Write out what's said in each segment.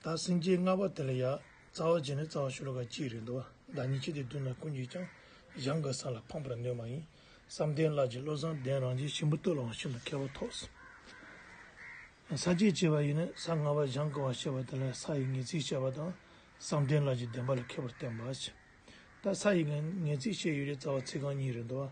ད་སེམས་ཅན་ལྔ་པ་དེ་ལ་ཡང་རྩ་བ་བྱས་ནས་རྩ་བ་ཤོ་ལོ་ཀ་གཅིག་རེད་འདུག་བདག་ཉིད་ཁྱེད་ཀྱི་མདུན་ན་ཀུན་གྱིས་ཀྱང་གཞང་གི་ས་ལ་འཕངས་པར་འདོད་མ་ཡིན། བསམ་གཏན་ལགས་ཀྱིས་བློ་བཟང་ལྡན་རང་རྗེ་ཆེན་པོ་བསྟོད་ལའང་ཤིན་ཏུ་མཁས་པ་ཐོགས་ཟིན། ས་བཅད་བྱས་པ་ཡིན་ནས་ས་ལྔ་པ་གཞང་གི་བར་བཤད་པ་དེ་ལ་ས་ཡི་ངེས་ཚིག་བཤད་པ་དང་བསམ་གཏན་ལགས་ཀྱིས་བདེན་པ་ལ་མཁས་པར་བསྟན་པ། ད་ས་ཡི་ངེས་ཚིག་བཤད་ཡུལ་རེད་རྩ་བ་ཚིག་རྐང་གཉིས་རེད་འདུག་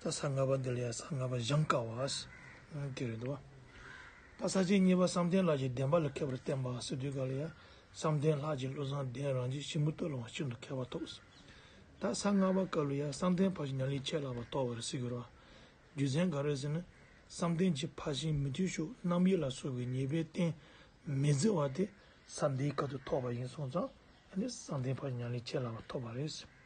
རྟ་ས་ལྔ་པ་འདི་ལ་ཡང་ས་ལྔ་པ་བཞེངས་དཀའ་བ། དེ་རེད་དོ། རྟ་ས་གཅིག་གཉིས་པ་བསམ་གཏན་ལགས་ཀྱི་བདེན་པ་ལ་མཁས་པར་བསྟན་པ་སི་ཏུའི་བཀའ་ལ་ཡང་བསམ་གཏན་ལགས་ཀྱི་བློ་བཟང་གདན་རང་རྗེས་ཤིང་མུ་སྟོད་ལོང་བ་ཤིན་ཏུ་མཁས་པ་ཐོགས། རྟ་ས་ལྔ་པ་བཀའ་ལུ་ཡང་བསམ་གཏན་ཕ་བཞིན་ཉང་ལི་ཆད་ལགས་པ་ཐོགས་པར་གཟིགས་ཀྱི་རོགས། རྒྱུ་མཚན་ག་རེ་ཟེར་ན་བསམ་གཏན་གྱིས་ཕ་བཞིན་མི་མཐུན་ཕྱོགས་རྣམ་དབྱེ་ལ་སོགས་པའི་ཉེས་པའི་རྟེན་མི་བརྫི་བ་དེ་ས་འདིའི་བཀའ་དུ་ཐོགས་པ་ཡིན་གསུངས་ཙང་ཡང་ནི་བསམ་གཏན་ཕ་བཞིན་ཉང་ལི་ཆད་ལགས་པ་ཐོགས་པ་རེད།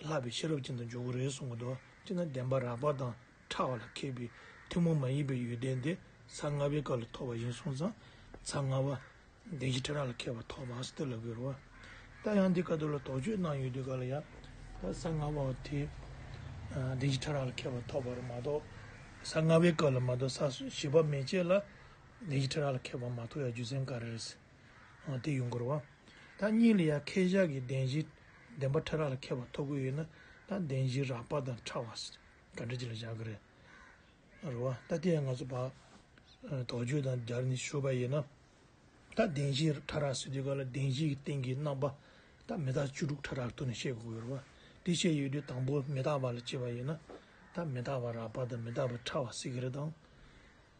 ལྷག་པའི་ཤེས་རབ་ཅན་དུ་འཇོག་གི་རེད་གསུང་གི་འདུག་སྤྱིར་ན་བདེན་པ་རགས་པ་དང་ཕྲ་བ་ལ་མཁས་པའི་ཐུན་མོང་མ་ཡིན་པའི་ཡོན་ཏན་དེ་ས་ལྔ་པའི་སྐབས་ལ་ཐོབ་པ་ཡིན་གསུང་ཙང་ཚ་ལྔ་བ། བདེན་བཞི་ཕྲ་རགས་ལ་མཁས་པ་ཐོག་མར་སི་ཏི་ལ་གུ་རུ་བ། ད་ཡང་འདི་ག་དུ་ལ་དོགས་གཅོད་གནང་ཡོད་དུས་ག་ལ་ཡ། ད་ས་ལྔ་བ་བ་དེ་བདེན་བཞི་ཕྲ་རགས་ལ་མཁས་པ་ཐོག་པར་མ་གཏོགས་ས་ལྔ་བའི་སྐབས་ལ་མ་གཏོགས་ས་བཞི་བ་མེ་ལྕེ་ལ་བདེན་བཞི་ཕྲ་རགས་ལ་མཁས་པ་མ་ཐོགས་ཡ་རྒྱུ་མཚན་ག་རེ་རེད། དེ་ཡུལ་འཁོར་བ། ད་གཉིས་ལ་ཡང་ཁས་བཞག་གི་བདེན་བཞི་བདེན་པ་ཕྲ་རགས་ལ་མཁས་པ་ཐོབ་གི་ཡོད་ན་ད་བདེན་བཞི་རགས་པ་དང་ཕྲ་བ་ག་འདྲ་ཅིག་ལ་བཞག་གི་རེད། རེད་བ། ད་དེ་ཡང་ང་ཚོ་བར་དོ་བརྗོད་དང་སྦྱར་ནས་ཞུས་པ་ཡིན་ན། ད་བདེན་བཞི་ཕྲ་རགས་ཟེར་དུས་ག་ལ་བདེན་བཞི་གི་སྟེང་གི་རྣམ་པ་ད་མི་རྟག་བཅུ་དྲུག་ཕྲ་རགས་ཐུགས་ནས་ཤེས་དགོས་གི་རེད་བ། དེ་བཤད་ཡོད་དུས་དང་པོ་མི་རྟག་པ་ལ་དཔྱད་པ་ཡིན་ན། ད་མི་རྟག་པ་རགས་པ་དང་མི་རྟག་པ་ཕྲ་བ་ཟེར་གི་རེད་དམ།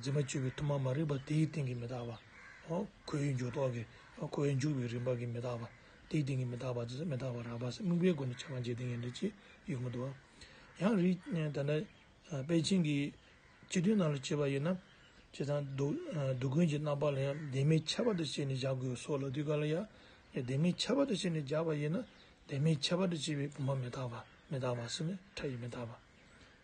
འཛིན་པ་བཅུ་པའི་དུ་མ་མ་རིག་པ་དེའི་སྟེང་གི་མི་རྟག་པ། ཁོ་བོའི་འཇུག་ཐོགས་ཀྱི་ཁོ་བོའི་འཇུག་པའི་རིམ་པ་གྱི་མི་རྟག་པ། དེའི་སྟེང་གི་མི་རྟག་པ་ཇི་སྲིད་མི་རྟག་པ་རགས་པ་སྲིད་དམིགས་པའི་སྒོ་ནས་ཕྱེ་བ་འཇིག་རྟེན་གྱི་འདུ་བྱེད་ཡུལ་མ་དུ་བ། ཡང་རིགས་དེ་འདྲ་པས་བྱིངས་ཀྱི་སྤྱི་དོན་རྣམས་ལ་བྱེད་པ་ཡིན་ན། བྱས་ཙང་སྡུག་ཀུན་གྱི་རྣམ་པ་ལ་ཡང་བདེན་མེད་ཁྱད་པར་དུ་བྱས་ནས་བཞག་དགོས་སོ་ལ་དུས་ག་ལ་ཡ། བདེན་མེད་ཁྱད་པར་དུ་བྱས་ནས་བཞག་པ་ཡིན་ན་བདེན་མེད་ཁྱད་པར་དུ་བྱས་པའི་དུ་མ་མི་རྟག་པ་མི་རྟག་པ་སྲིད་མི་ཕྲ་ཡི་མི་རྟག་པ།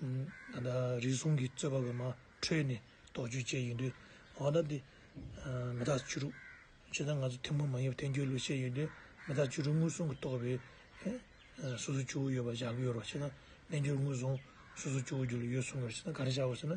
ད་ལྟ་རིགས་གསུམ་གྱི་རྩོད་པ་བོད་མ་ཁྲོད་ནས་དོགས་གཅོད་བྱས་ཡོད་དུས་མ་དག་སྟེ། མི་དག་བཅུ་དྲུག། ཇི་ལྟར་ང་ཚོ་ཐུན་མོང་མ་ཡིན་པའི་འཐེན་འཁྱེར་ལུགས་བཤད་ཡོད་དུས་མི་དག་བཅུ་དྲུག་ངོས་བཟུང་གི་རྟོག་པའི། སོ་སོ་བཅུ་བོ་ཡོད་པ་བཞག་གི་ཡོད་རོགས་ཕྱི་ནང་རྣལ་འབྱོར་ངོས་བཟུང་སོ་སོ་བཅུ་བོ་རྒྱུ་ལ་ཡོད་གསུངས་པ་ཕྱི་ནང་ག་རེ་བཞག་གོ་ཟེར་ན་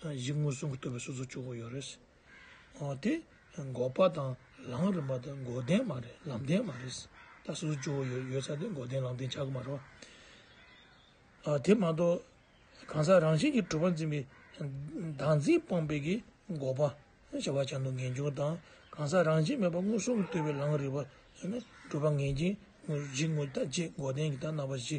གཞི་དངོས་གསུམ་གྱི་བསྟོད་པའི་གསོལ་ཚོགས་བཅུ་དགུ་ཡོད་རེད། འོ་དེ་འགོག་པ་དང་ལམ་རིམ་པ་དང་འགོག་བདེན་མ་རེད་ལམ་བདེན་མ་རེད། ད་གསོལ་ཚོགས་བཅུ་དགུ་ཡོད་ས་དེ་འགོག་བདེན་ལམ་བདེན་ཆགས་ཀྱི་མ་རེད། དེ་མ་གཏོགས་གང་ཟག་རང་བཞིན་གྱིས་གྲུབ་པ་འཛིན་པའི་བདག་འཛིན་སྤངས་པའི་གི་འགོག་པ་བྱ་བ་བྱ་འདུག་ངེས་འབྱུང་དང་གང་ཟག་རང་བཞིན་མེད་པ་དངོས་གསུམ་གྱི་བསྟོད་པའི་ལམ་རིམ་པ་ནི་གྲུབ་པ་ངེས་འབྱིན་དངོས་གཞི་དངོས་བརྒྱ་བཅས་འགོག་བདེན་གྱི་དག་སྣང་བ་བཞི་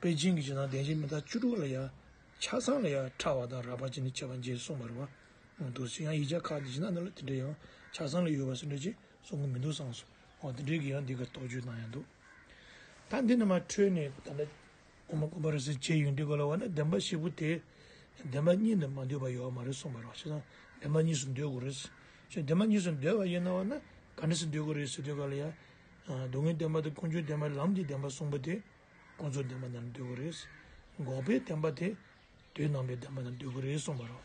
པེ་ཅིང་གི་ཇི་ནང་བདེ་འཇིགས་མི་རྟག་བཅུ་དྲུག་ལ་ཡང་ཆ་ཚང་ལ་ཡང་ཕྲ་བ་དང་རགས་པ་ཅན་ནི་བྱེད་པ་འཇལ་གསུངས་པར་བ་མོ་འདུག་ཚེ་ཡང་ཡིག་ཆ་ཁག་གི་ཇི་ནང་ན་ལ་དེ་འདྲའི་ཡང་ཆ་ཚང་ལ་ཡོད་པ་ཟེར་འདོད་ཅེས་གསུང་གི་མི་འདུག་སང་སོ་འོ་དེ་འདྲའི་གི་ཡང་འདི་གར་རྟོག་དཔྱོད་གནང་ཡང་འདུག་ད་འདི་ནི་མ་འཕྲོས་ནས་ད་ལྟ་ཨོ་མ་ཀོ་པ་རེད་ཟེར་བྱས་ཡོད་འདི་གོ་ལ་བ་ན་བདེན་པ་བཞི་པོ་དེ་བདེན་པ་གཉིས་འདི་མ་འདོད་པ་ཡོད་བ་མ་རེད་གསུངས་པར་བ་ཞེ་སང་བདེན་པ་གཉིས་སུ་འདོད་དགོས་རེད། ཞེས་བདེན་པ་གཉིས་སུ་འདོད་པ་ཡིན་ན་བ་ན་ག་འདྲ་སུ་འདོད་དགོས་རེད་ཟེར་དུས་ག་ལ་ཡང་སྡུག་བསྔལ་བདེན་པ་དང་ཀུན་འབྱུང་བདེན་པ་ལམ་གྱི་བདེན་པ་གསུངས་པ་དེ། ཀུན་རྫོབ་བདེན་པ་རྣམས་འདོད་དགུ་རེད། འགོག་པའི་བདེན་པ་དེ་དུས་སྣང་བའི་བདེན་པ་རྣམས་འདོད་དགུ་རེད་གསུངས་པ་རོ།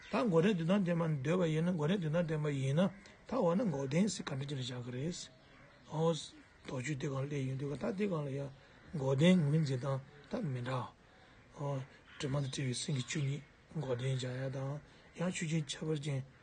ད་འགོག་བྲལ་དུས་སྣང་བདེན་པ་འདོད་པ་ཡིན་ན་འགོག་བྲལ་དུས་སྣང་བདེན་པ་ཡིན་ན་ད་འོ་ན་འགོག་བདེན་སེ་ག་འདྲ་ཅི་ལ་བཞག་གི་རེད། ཨོ། དོགས་གཅོད་དེ་གང་སླད་ཡོད་འདོད་ག་ད་དེ་གང་ལ་ཡང་འགོག་བདེན་ངོས་འཛིན་སྟངས་ད་མི་འདྲ། ཨོ། དྲི་མ་དང་བྲལ་བའི་སེམས་ཀྱི་ཆོས་ཉིད་འགོག་བདེན་བཞག་ཡ་དང་ཡང་ཆོས་ཅན་ཁྱད་པར་ཅན།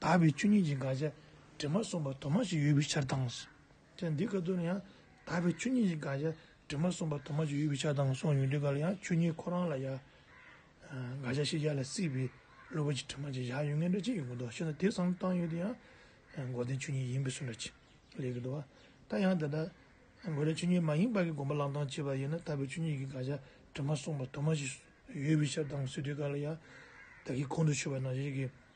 དག་པའི་ཆོས་ཉིད་ཀྱི་དགག་བྱ་དྲི་མ་གསུམ་པ་དུ་མ་ཞིག་ཡོད་པའི་ཕྱིར་དང། ཅད་འདི་ཀ་ཏུ་ནི་ཡང་དག་པའི་ཆོས་ཉིད་ཀྱི་དགག་བྱ་དྲི་མ་གསུམ་པ་དུ་མ་ཞིག་ཡོད་པའི་ཕྱིར་དང་གསུངས་ཡོད་དུས་འགའ་ལ་ཡང་ཆོས་ཉིད་ཁོ་རང་ལ་ཡང་དགག་བྱ་ཤེས་བྱ་ལ་སྲིད་པའི་བློ་བུར་གྱི་དྲི་མ་ཅིག་བཞག་ཡོད་ངེས་འདྲ་ཅི་ཡོད་ཀྱི་མདོ་ཤེས་ན་དེ་སང་བཏང་ཡོད་དུས་ཡང་མགོ་ལྡན་ཆོས་ཉིད་ཡིན་པའི་སུ་འདྲ་ཅི་ལས་ཀྱི་འདུག་བ། ད་ཡང་དེ་ལྟར་མགོ་ལྡན་ཆོས་ཉིད་མ་ཡིན་པ་གི་དགོངས་པ་བླང་དང་བྱས་པ་ཡིན་ན་དག་པའི་ཆོས་ཉིད་ཀྱི་དགག་བྱ་དྲི་མ་གསུམ་པ་དུ་མ་ཞིག་ཡོད་པའི་ཕྱིར་དང་སྲིད་དུས་འགའ་ལ་ཡང་དག་གིས་ཁོང་དུ་ཆུད་པ་ན་གཞིག་གི།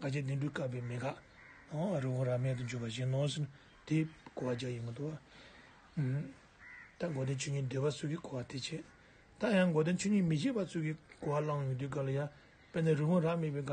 དགའ་བྱེད་བདུན་འབྲུ་བཀབ་པའི་མེ་དགག། རི་བོང་རྭ་མེད་དུ་འཇུག་པ་བཞིན་ནོ། དེས་གོ་བ་བརྒྱ་ཡིན་མི་འདོར། ད་མགོ་སྟོན་ཆོས་ཉིད་འདོད་པ་སོགས་ཀྱིས་གོ་བ་དེ་བྱེད། ད་ཡང་མགོ་སྟོན་ཆོས་ཉིད་མི་བྱེད་པ་སོགས་ཀྱིས་གོ་བ་བླང་ཡོང་དུས་ག་ལ་ཡ། དཔེར་ན་རི་བོང་རྭ་མེད་པའི་དགག།